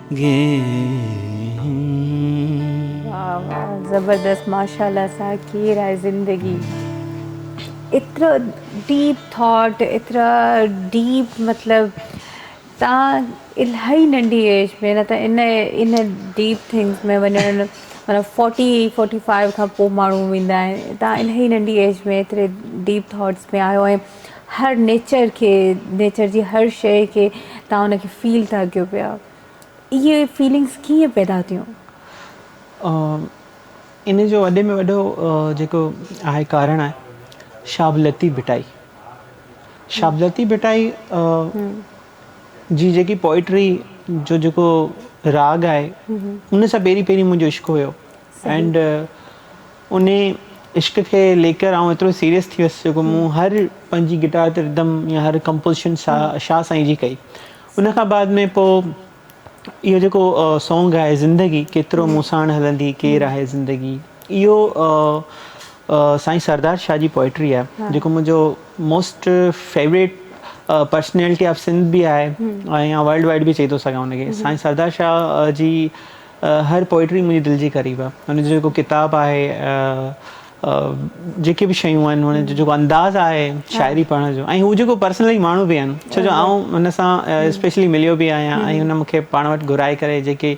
واھ واھ زبردست ماشاءالله سا ڪير آهي زندگي ايترو ڊيپ ٿاٽ ايترا ڊيپ مطلب تان الائي ننڊي ايج ۾ نه ته ان ان ڊيپ ٿنگس ۾ وڃڻ منا 40 45 کان پو ماڻهو ويندا آهن تان الائي ننڊي ايج ۾ ايتري ڊيپ ٿاٽس ۾ آهيو ۽ هر نيچر کي نيچر جي هر شئي کي تهان ان کي فيل ٿا ڪيو پيا اهي فيلنگس ڪيئن پيدا ٿيون؟ ان جو وڏي ۾ وڏو جيڪو آهي ڪارڻ آهي شابلتي ڀٽائي شابلتي ڀٽائي جي جيڪي پوئٽري جو جيڪو راڳ آهي ان سان پهرين پهرين منهنجو عشق هيو اينڊ انهي عشق کي ليڪر آئون ايترو سيريس ٿي ويس جو ڪو مون هر پنهنجي گٽار تي ردم يا هر ڪمپوزيشن سا شاهه سائين جي ڪئي ان کان بعد ۾ پو اهو جيڪو سونگ آهي زندگي ڪيترو مون ساڻ هلندي ڪير آهي زندگي اهو سائين سردار شاهه جي پوئٽري آهي جيڪو منهنجو most favourite personality of Sindh به آهي ۽ ورلڊ وائڊ به چئي ٿو سگهان ان کي سائين سردار شاهه جي هر پوئٽري منهنجي دل جي قريب آ هن جو جيڪو ڪتاب آهي جيڪي به شيون آهن هن جو جيڪو انداز آهي شاعري پڙهڻ جو ۽ هو جيڪو پرسنلي ماڻهو به آهن ڇو جو آئون هن سان اسپيشلي مليو به آهيان ۽ هن مونکي پاڻ وٽ گهرائي ڪري جيڪي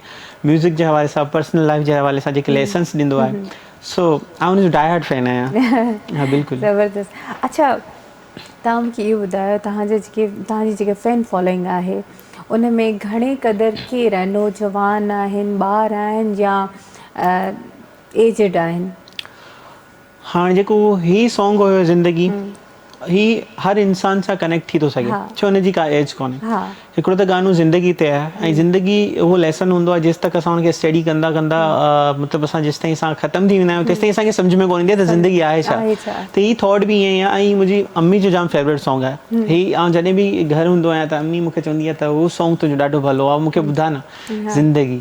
ميوزڪ جي حوالي سان پرسنل لائيف جي حوالي سان جيڪي ليسنس ڏيندو آهي سو آئون هن جو ڊائي هارٽ فين آهيان ها بلڪل زبردست اڇا توهان مون کي اهو ٻڌايو توهان جا جيڪي توهان جي جيڪي فين فالوئنگ آهي ان ۾ گهڻي قدر ڪير آهن نوجوان آهن ٻار آهن يا ايجڊ آهن. هاڻ جيڪو هي سانگ هيو زندگي هي هر انسان سان ڪنيڪٽ ٿي ٿو سگهي ڇو هن جي ڪا ايج ڪونهي هڪڙو ته گانو زندگي تي آهي ۽ زندگي اهو ليسن هوندو آهي جيستڪ اسان ان کي اسٽيڊي ڪندا ڪندا مطلب اسان جيستائين اسان ختم ٿي ويندا آهيون تيستائين اسان کي سمجهه ۾ ڪونه ايندي آهي ته زندگي آهي ڇا ته هي ٿاٽ به ائين ئي آهي ۽ منهنجي امي جو جام فيوريٽ سانگ آهي هي آئون جڏهن به گهر هوندو آهيان ته امي مون کي چوندي آهي ته هو سانگ تنهنجو ڏاڍو ڀلو آهي مون کي ٻڌاء نه زندگي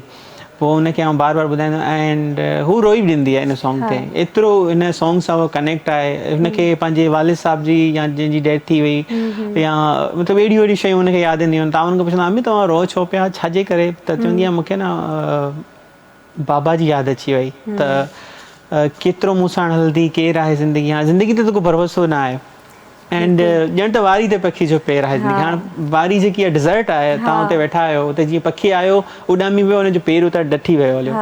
پوء ان کي آئون بار بار ٻڌائيندو آهيان اينڊ هو روئي به ڏيندي آهي ان سانگ تي ايترو ان سانگ سان هو ڪنيڪٽ آهي هن کي پنهنجي والد صاحب جي يا جنهن جي ڊيٿ ٿي وئي يا مطلب اهڙيون اهڙيون شيون هن کي ياد اينديون آهن تون کي پڇندو امي توهان روئو ڇو پيا ڇا جي ڪري ته چوندي آهي مون کي نه بابا جي ياد اچي وئي ته ڪيترو مون ساڻ هلندي ڪير آهي زندگي هاڻ زندگي تي تو کي ڀروسو نه آهي اينڊ ڄڻ ته واري تي پکي جو پير آهي زندگي هاڻ واري جيڪي آهي ڊيزرٽ آهي تان اتي ويٺا آهيو اتي جيئن پکي آيو اڏامي ويو ان جو پير اتي ڊٺي ويو هليو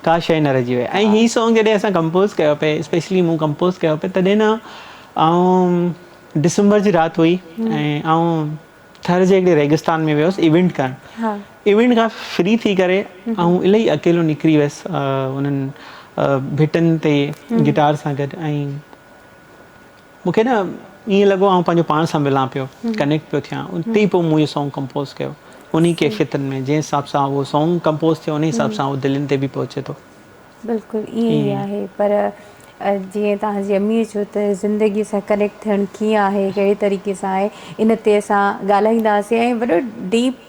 ڪا شيء نه رهجي وئي ۽ هي سونگ جڏهن اسان ڪمپوز ڪيو پئي اسپيشلي مون ڪمپوز ڪيو پئي تڏهن نه آئون ڊسمبر جي رات هئي ۽ آئون ٿر جي هڪڙي ريگستان ۾ ويوس ايونٽ ڪرڻ ايونٽ کان فري ٿي ڪري آئون الائي اڪيلو نڪري ويس انهن ڀٽن تي گٽار سان گڏ ۽ مون کي نه ائين لڳو آئون پنهنجو پاڻ سان ملان پيو، ڪنيڪٽ پيو ٿيان، اتي ئي پوء مون اهو سانگ ڪمپوز ڪيو، انهي ڪيفيتن ۾ جنهن حساب سان اهو سانگ ڪمپوز ٿيو انهي حساب سان اهو دلين تي به پهچي ٿو. بلڪل ائين ئي آهي پر جيئن توهان جي امير چيو ته زندگي سان ڪنيڪٽ ٿيڻ ڪيئن آهي ڪهڙي طريقي سان آهي ان تي اسان ڳالهائينداسين ۽ وڏو ڊيپ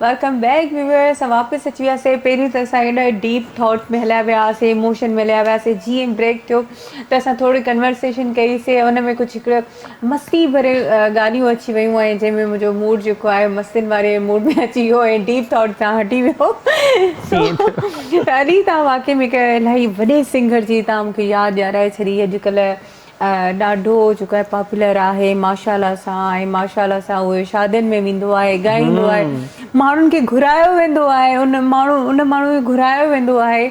ويلڪم بيڪ ويورز اسان واپس اچي وياسين پهريون ته اسان هيڏا ڊيپ ٿاٽ ۾ هليا ويا هئاسين اموشن ۾ هليا وياسين جيئن بريڪ ٿيو ته اسان ٿوري ڪنورسيشن ڪئي سي ان ۾ ڪجهه هڪڙو مستي ڀري گانيون اچي ويون ۽ جنهن ۾ منهنجو موڊ جيڪو آهي مستين واري موڊ ۾ اچي ويو ۽ ڊيپ ٿاٽ تان هٽي ويو سو ائين ٿيو اڏي تان واقعي ۾ هڪ الاهي وڏي سنگر جي تان مونکي ياد ڏيارائي ڇڏي اڄ ڪلهه ڏاڍو جيڪو آهي پاپولر آهي ماشاالله سان ۽ ماشاالله سان اهو شادين ۾ ويندو آهي ڳائيندو آهي ماڻهن کي گهرايو ويندو آهي ان ماڻهو ان ماڻهو کي گهرايو ويندو آهي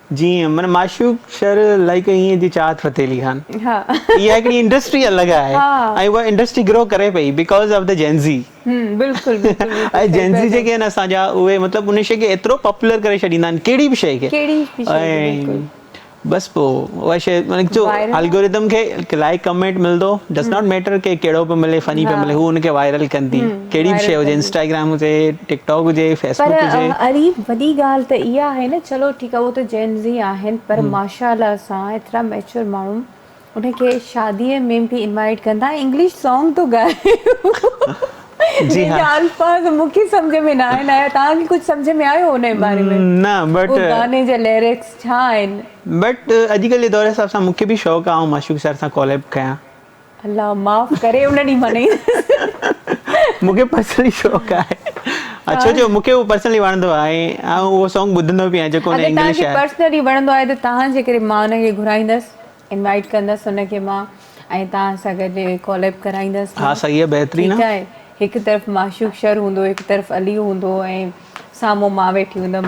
جي معنيٰ معشوق شر لائيڪ ائين جي چاهت فتح علي خان اها هڪڙي انڊسٽري الڳ آهي ۽ اها انڊسٽري گرو ڪري پئي because of the Gen Z ۽ Gen Z جيڪي آهن اسان جا اهي مطلب ان شي کي ايترو پاپولر ڪري ڇڏيندا آهن ڪهڙي به شي کي ۽ بس پو اها شي مطلب جو الگوريدم کي لائيڪ ڪمينٽ ملندو ڊز ناٽ ميٽر ڪي ڪهڙو به ملي فني به ملي هو ان کي وائرل ڪندي ڪهڙي به شيء وائرل هجي ڪندي. انسٽاگرام هجي ٽڪ ٽاڪ هجي پر فيسبوڪ هجي. اري وڏي ڳالهه ته اها آهي نه چلو ٺيڪ آهي اهو ته جين زي آهن پر هم. ماشاالله اسان ايترا ميچور ماڻهو انهن کي شادي ۾ به انوائيٽ ڪندا ۽ انگلش سانگ ٿو ڳائي جي جنهن ها. جا الفاظ مون کي سمجهه ۾ ناهن آيا توهان کي ڪجهه سمجهه ۾ آيو انهي باري ۾ نه بٽ اهو گاني جا ليرڪس ڇا آهن. بٽ اڄڪلهه جي دور حساب سان مون کي به شوق آهي آئون معشوق سر سان ڪاليب ڪيان. الله معاف ڪري ان ڏينهن مان نينهن. مون کي پرسنلي شوق آهي اڇو جو مون کي اهو پرسنلي وڻندو آهي ۽ آئون اهو سونگ ٻڌندو به آهيان جيڪو ان انگلش آهي. اگر تهان کي پرسنلي وڻندو آهي ته تهان جي ڪري مان ان کي گهرائيندس انوائيٽ ڪندس ان کي مان ۽ تهان سان گڏ ڪوليب ڪرائيندس مان ها صحيح آهي بهترين ٺيڪ آهي هڪ طرف معشوق شر هوندو هڪ طرف علي هوندو ۽ سامهون مان ويٺي هوندم.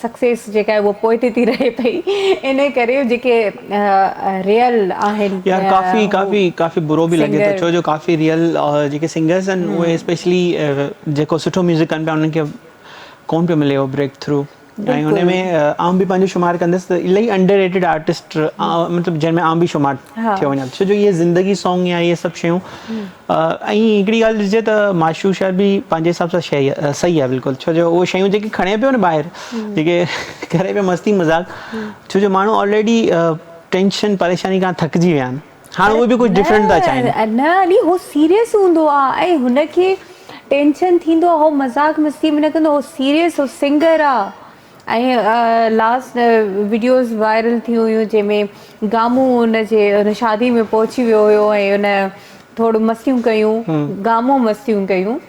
سڪسيس جيڪا آهي اها پوئتي ٿي رهي پئي انهي ڪري جيڪي ريئل آهن يار ڪافي هو ڪافي ڪافي برو به لڳي ٿو سنگر ڇو جو ڪافي ريئل جيڪي سنگرس آهن اهي هم اسپيشلي جيڪو سٺو ميوزڪ ڪن پيا انهن کي ڪون پيو ملي اهو بريڪ ٿرو ۽ ان بلڪل ۾ آئون به پنهنجو شمار ڪندس ته الاهي انڊر ريٽيڊ آرٽسٽ مطلب جنهن ۾ آئون به شمار ٿيو وڃان ٿو ڇو جو اهي زندگي سانگ يا اهي سڀ شيون ۽ هڪڙي ڳالهه ڏسجي ته معشوق شاعر به پنهنجي حساب سان شيء صحيح آهي بلڪل ڇو جو اهي شيون جيڪي کڻي پيو نه ٻاهر جيڪي ڪري پيو مستي مذاق ڇو جو ماڻهو آلريڊي ٽينشن پريشاني کان ٿڪجي ويا آهن هاڻ اهي به ڪجهه ڊفرنٽ ٿا چاهين نه علي هو سيريس هوندو آهي ۽ هن کي ٽينشن ٿيندو آهي هو مذاق مستي ۾ نه ڪندو آهي هو سيريس هو سنگر آهي ۽ لاسٽ وڊيوز وائرل ٿيون هيون جنهن ۾ گامو ان جي ان شادي ۾ پهچي ويو هيو ۽ ان ٿورو مستيون ڪيون گامو مستيون ڪيون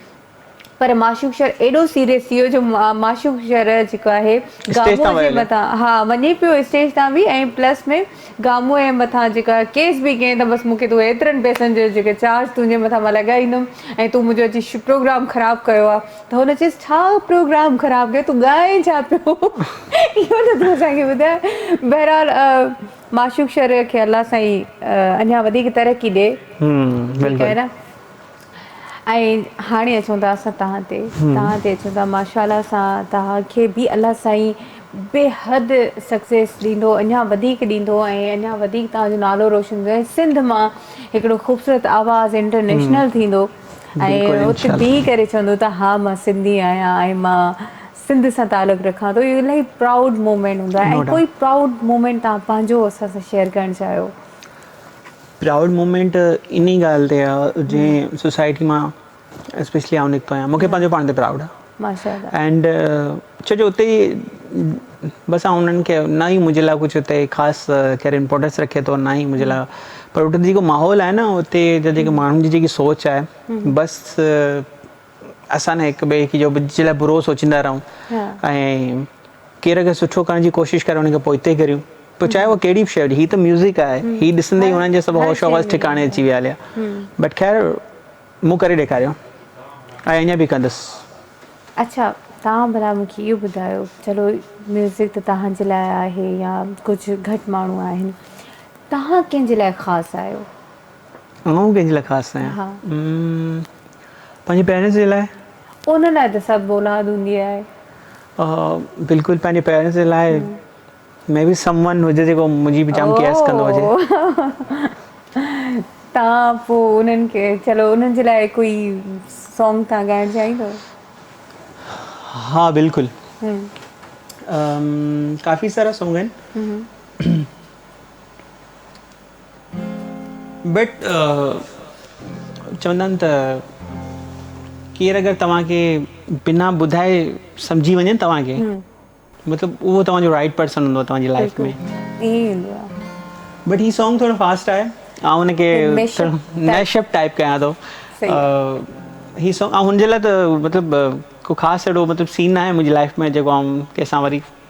پر معشوق شر ايڏو سيريس ٿي ويو جو معشوق شر جيڪو آهي گامو جي مٿان ها وڃي پيو اسٽيج تان به ۽ پلس ۾ گامو ۽ مٿان جيڪا ڪيس به ڪين ته بس مون کي تون ايترن پئسن جو جيڪو چارج تنهنجي مٿان مان لڳائيندم ۽ تون منهنجو اچي پروگرام خراب ڪيو آ ته هن چيس ڇا پروگرام خراب ڪيو تون ڳائين ڇا پيو اهو ته تون اسان کي ٻڌاء بهرحال معشوق شريعه کي الله سائين اڃان وڌيڪ ترقي ڏي ٺيڪ آهي نه. ۽ هاڻي اچون ٿا اسان تهان تي تهان تي اچون ٿا ماشاالله سان تهان کي به الله سائين بيحد سڪسيس ڏيندو اڃا وڌيڪ ڏيندو ۽ اڃا وڌيڪ تهان جو نالو روشن ڪندو ۽ سنڌ مان هڪڙو خوبصورت آواز انٽرنيشنل ٿيندو بلڪل ۽ ات انشاءالله بيهي ڪري چوندو ته ها مان سنڌي آهيان ۽ مان سنڌ سان تعلق رکان ٿو اهو الاهي پرائوڊ مومينٽ هوندو آهي نو ۽ ڊاؤٽ ڪوئي پرائوڊ مومينٽ تهان پنهنجو اسان سان شيئر ڪرڻ چاهيو پرائوڊ مومينٽ انهي ڳالهه تي آ جنهن سوسائٽي مان اسپيشلي آئون نڪتو آهيان مونکي پنهنجو پاڻ تي پرائوڊ آ اينڊ ڇو جو اتي بس آئون انهن کي نه ئي منهنجي لاء ڪجهه اتي خاص ڪير امپورٽنس رکي ٿو نه ئي منهنجي لاء پر اتي جيڪو ماحول آهي نه اتي جا جيڪي ماڻهن جي جيڪي سوچ آهي بس اسان هڪ ٻئي جو جي لاء برو سوچيندا رهون ۽ ڪير اگر سٺو ڪرڻ جي ڪوشش ڪري ان کي پوئتي ڪريون پوء چاهي اهو ڪهڙي به شي هجي هي ته ميوزڪ آهي هي ڏسندي هنن جا سڀ هوش حواس ٺڪاڻي اچي ويا هليا بٽ خير مون ڪري ڏيکاريو ۽ اڃا به ڪندس اچا تان ڀلا مون کي اهو ٻڌايو چلو ميوزڪ ته تهان جي لاء آهي يا ڪجهه گهٽ ماڻهو آهن تهان ڪنهن جي لاء خاص آهيو آئون ڪنهن جي لاء خاص آهيان پنهنجي پيرنٽس جي لاء. ان لاء ته سڀ اولاد هوندي آهي. بلڪل پنهنجي پيرنٽس جي لاء مي بي سم ون هجي جيڪو منهنجي به جام ڪيئرس ڪندو هجي. تان پو انهن کي چلو انهن جي لاء ڪوئي سونگ تان ڳائڻ چاهيندو. ها بلڪل ڪافي سارا سونگ آهن. بٽ چوندا آهن ته ڪير اگر توهان کي بنا ٻڌائي سمجهي وڃي توهان کي مطلب اهو توهان جو رائٽ پرسن هوندو توهان جي لائف ۾ بٽ هي سانگ ٿورو فاسٽ آهي آئون هن کي ميش اپ ٽائپ ڪيان ٿو هي سانگ آئون هن جي لاء ته مطلب ڪو خاص اهڙو مطلب سين ناهي منهنجي لائف ۾ جيڪو آئون ڪنهن سان وري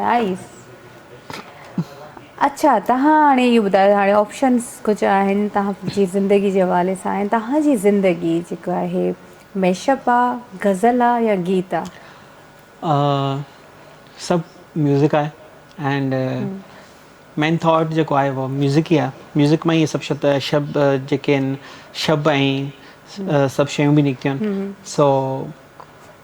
نائس اڇا تهان هاڻي اهو ٻڌايو هاڻي آپشنس ڪجهه آهن تهان جي زندگي جي حوالي سان ۽ تهان جي زندگي جيڪو آهي ميشپ آ غزل آ يا گيت آ. آ سڀ ميوزڪ آهي اينڊ مين ٿاٽ جيڪو آهي اهو ميوزڪ ئي آهي ميوزڪ مان ئي سڀ شبد شب جيڪي آهن شب ۽ سڀ شيون به نڪتيون آهن سو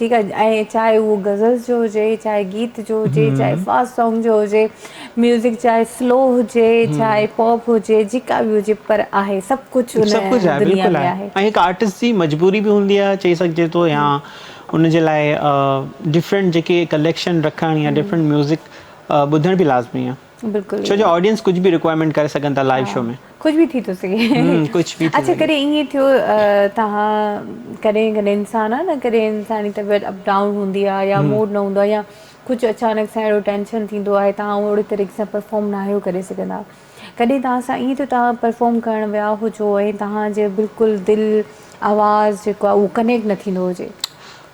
ٺيڪ آهي ۽ چاهي اهو غزل جو هجي چاهي گيت جو هجي چاهي هم فاست سانگ جو هجي ميوزڪ چاهي سلو هجي هم چاهي پاپ هجي جيڪا به هجي پر آهي سڀ ڪجھ ان سڀ ڪجھ آهي دنيا بلڪل ۾ آهي ۽ هڪ آرٽسٽ جي مجبوري به هوندي آهي چئي سگهجي ٿو يا ان جي لاء ڊفرنٽ جيڪي ڪليڪشن رکڻ يا ڊفرنٽ ميوزڪ ٻڌڻ به لازمي آهي بلڪل ڇو جو آڊينس ڪجھ به رڪوائرمينٽ ڪري سگھن ٿا لائيو شو ۾. ڪجھ به ٿي ٿو سگھي ڪجھ به ٿي اڇا سگھي. ڪڏهن ائين ٿيو توهان ڪڏهن ڪڏهن انسان آ نه ڪڏهن انسان جي طبيعت اپ ڊائون هوندي آ يا هم موڊ نه هوندو آ يا ڪجھ اچانڪ سان اهڙو ٽينشن ٿيندو آهي توهان اوهڙي طريقي سان پرفارم ناهيو ڪري سگھندا ڪڏهن توهان سان ائين ٿيو توهان پرفارم ڪرڻ ويا هجو ۽ توهان جي بلڪل دل آواز جيڪو آ اهو ڪنيڪٽ نه ٿيندو هجي.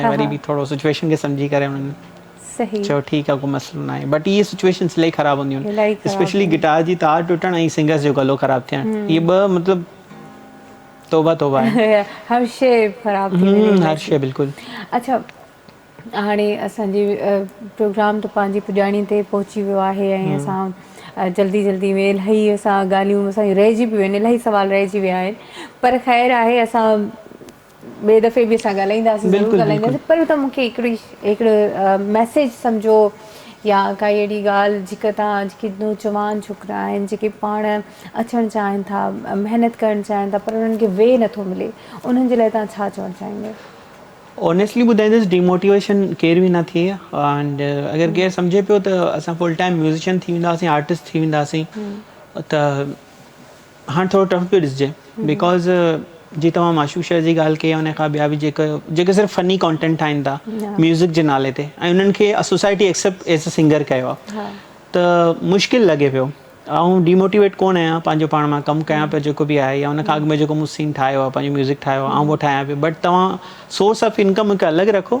۽ وري به ٿورو سچويشن کي سمجهي ڪري انهن چيو ٺيڪ آهي ڪو مسئلو ناهي بٽ اهي سچويشنس الائي خراب هونديون آهن اسپيشلي گٽار جي تار ٽٽڻ ۽ سنگرس جو گلو خراب ٿيڻ اهي ٻه مطلب توبه توبه آهي هر شي خراب ٿي وڃي هر شي بلڪل اڇا هاڻي اسان جي پروگرام ته پنهنجي پڄاڻي تي پهچي ويو آهي ۽ اسان جلدي جلدي ۾ الائي اسان ڳالهيون اسان جون رهجي پيون آهن الائي سوال رهجي ويا آهن پر خير آهي اسان ٻئي دفعي به اسان ڳالهائينداسين ضرور بلڪل بلڪل ڳالهائينداسين پر تون مونکي هڪڙي هڪڙو ميسيج سمجهو يا ڪا اهڙي ڳالهه جيڪا تان جيڪي نوجوان ڇوڪرا آهن جيڪي پاڻ اچڻ چاهين ٿا محنت ڪرڻ چاهين ٿا پر انهن کي وي نٿو ملي انهن جي لاء تان ڇا چوڻ چاهيندو اونيسٽلي ٻڌائيندس ڊيموٽيويشن ڪير به نه ٿئي اينڊ اگر ڪير سمجهي پيو ته اسان فل ٽائيم ميوزيشن ٿي وينداسين آرٽسٽ ٿي وينداسين ته هاڻ ٿورو ٽف پيو ڏسجي بيڪاز جي توهان معشوق شير جي ڳالهه ڪئي يا ان کان ٻيا به جيڪا جيڪي صرف فني ڪانٽينٽ ٺاهين ٿا ميوزڪ جي نالي تي ۽ انهن کي society accept as a singer ڪيو آهي ته مشڪل لڳي پيو آئون ڊيموٽيويٽ ڪونه آهيان پنهنجو پاڻ مان ڪم ڪيان پيو جيڪو به آهي يا ان کان اڳ ۾ جيڪو مون سين ٺاهيو آهي پنهنجو ميوزڪ ٺاهيو آهي آئون اهو ٺاهيان پيو بٽ توهان سورس آف انڪم هڪ الڳ رکو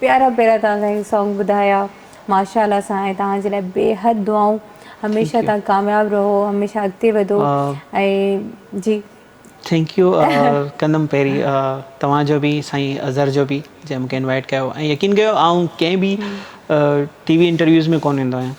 پيارا پيارا توهان کان هي سانگ ٻڌايا ماشاءالله سائين توهان جي لاء بيحد دعائون هميشه توهان ڪامياب رهو هميشه اڳتي وڌو ۽ جي ٿينڪ يو ڪندم پهرين توهان جو به سائين اظهر جو به جنهن مونکي انوائيٽ ڪيو ۽ يقين ڪيو آئون ڪنهن به ٽي وي انٽرويوز ۾ ڪونه ايندو آهيان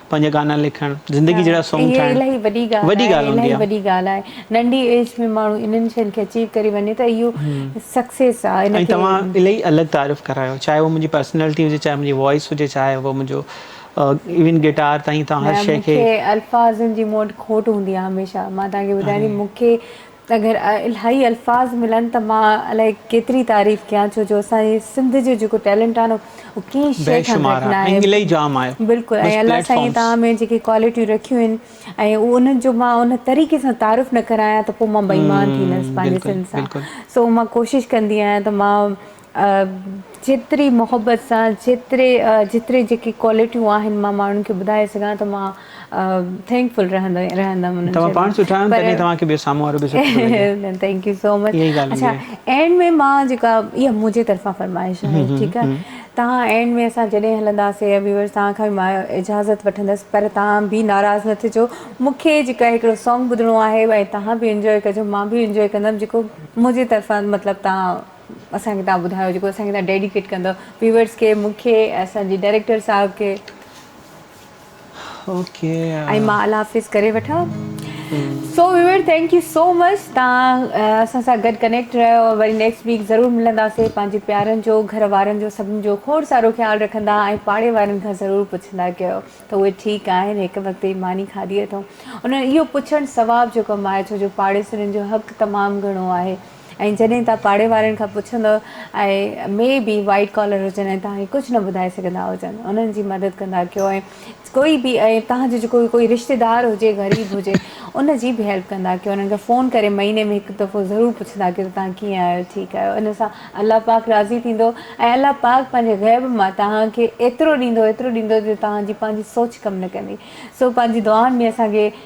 پنهنجا گانا لکڻ زندگي جهڙا سونگ ٺاهڻ الائي وڏي ڳالهه آهي الائي وڏي ڳالهه آهي ننڍي ايج ۾ ماڻهو انهن شين کي اچيو ڪري وڃي ته اهو سڪسيس آهي ان کي توهان الائي الڳ تعارف ڪرايو چاهي اهو منهنجي پرسنالٽي هجي چاهي منهنجي وائس هجي چاهي اهو منهنجو ايون گٽار تائين توهان هر شي کي الفاظن جي مون وٽ کوٽ هوندي آهي هميشه مان توهان کي ٻڌايان ٿي مون کي اگر الاهي الفاظ ملن ته مان الاهي ڪيتري تعريف ڪيان ڇو جو اسان جي سنڌ جو جيڪو ٽيلنٽ آهي نه اهو ڪنهن شيء کان گهٽ نه آهي بلڪل ۽ الله سائين توهان ۾ جيڪي ڪوالٽيون رکيون آهن ۽ انهن جو مان ان طريقي سان تعارف نه ڪرايان ته پوء مان بيمان ٿيندس پنهنجي سنڌ سان سو مان ڪوشش ڪندي آهيان ته مان جيتري محبت سان جيتري جيتري جيڪي ڪوالٽيون آهن مان ماڻهن کي ٻڌائي سگهان ته مان ٿينڪ فل رهندي رهندم انهن توهان پاڻ سٺا آهيو تڏهن توهان کي ٻيو سامهون وارو به سٺو ٿو لڳي پر ٿينڪ يو سو مچ اها ئي ڳالهه اڇا هوندي آهي اينڊ ۾ مان جيڪا اها منهنجي طرفان فرمائش آهي ھمم ٺيڪ آهي ھمم توهان اينڊ ۾ اسان جڏهن هلنداسي يا ويورس توهان کان به مان اجازت وٺندس پر توهان به ناراض نه ٿجو مون کي جيڪا هڪڙو سانگ ٻڌڻو آهي ۽ توهان به انجوائي ڪجو مان به انجوائي ڪندم جيڪو منهنجي طرفان مطلب توهان اسان کي تان ٻڌايو جيڪو اسان کي تان ڊيڊيڪيٽ ڪندو ويورز کي مون کي اسان جي ڊائريڪٽر صاحب کي اوڪي ۽ مان الله حافظ ڪري وٺا so viewer thank you so much تان اسان سان گڏ ڪنيڪٽ رهيو وري نيڪسٽ ويڪ ضرور ملنداسي پنهنجي پيارن جو گهر وارن جو سڀن جو کوڙ سارو خيال رکندا ۽ پاڙي وارن کان ضرور پڇندا ڪيو ته اهي ٺيڪ آهن هڪ وقت جي ماني کاڌي اٿو انهن اهو پڇڻ ثواب جو ڪم آهي ڇو جو پاڙيسرين جو حق تمام گهڻو آهي ۽ جڏهن توهان پاڙي وارن کان پڇندؤ ۽ مي بي وائيٽ ڪالر هجن ۽ توهان کي ڪجهه نه ٻڌائي سگهندا هجن انهن جي مدد ڪندا ڪيو ۽ ڪوئي به ۽ توهان جو جيڪو ڪوئي رشتيدار هجي غريب هجي ان جي به هيلپ ڪندا ڪيو انهن کي فون ڪري مهيني ۾ هڪ دفعو ضرور پڇندا ڪيو ته توهان ڪيئن آهيو ٺيڪ آهيو ان سان الله پاڪ راضي ٿيندو ۽ الله پاڪ پنهنجي غيب مان توهان کي ايترو ڏيندو ايترو ڏيندو جو توهان جي پنهنجي سوچ ڪم نه ڪندي سو پنهنجي دعائن ۾ اسان کي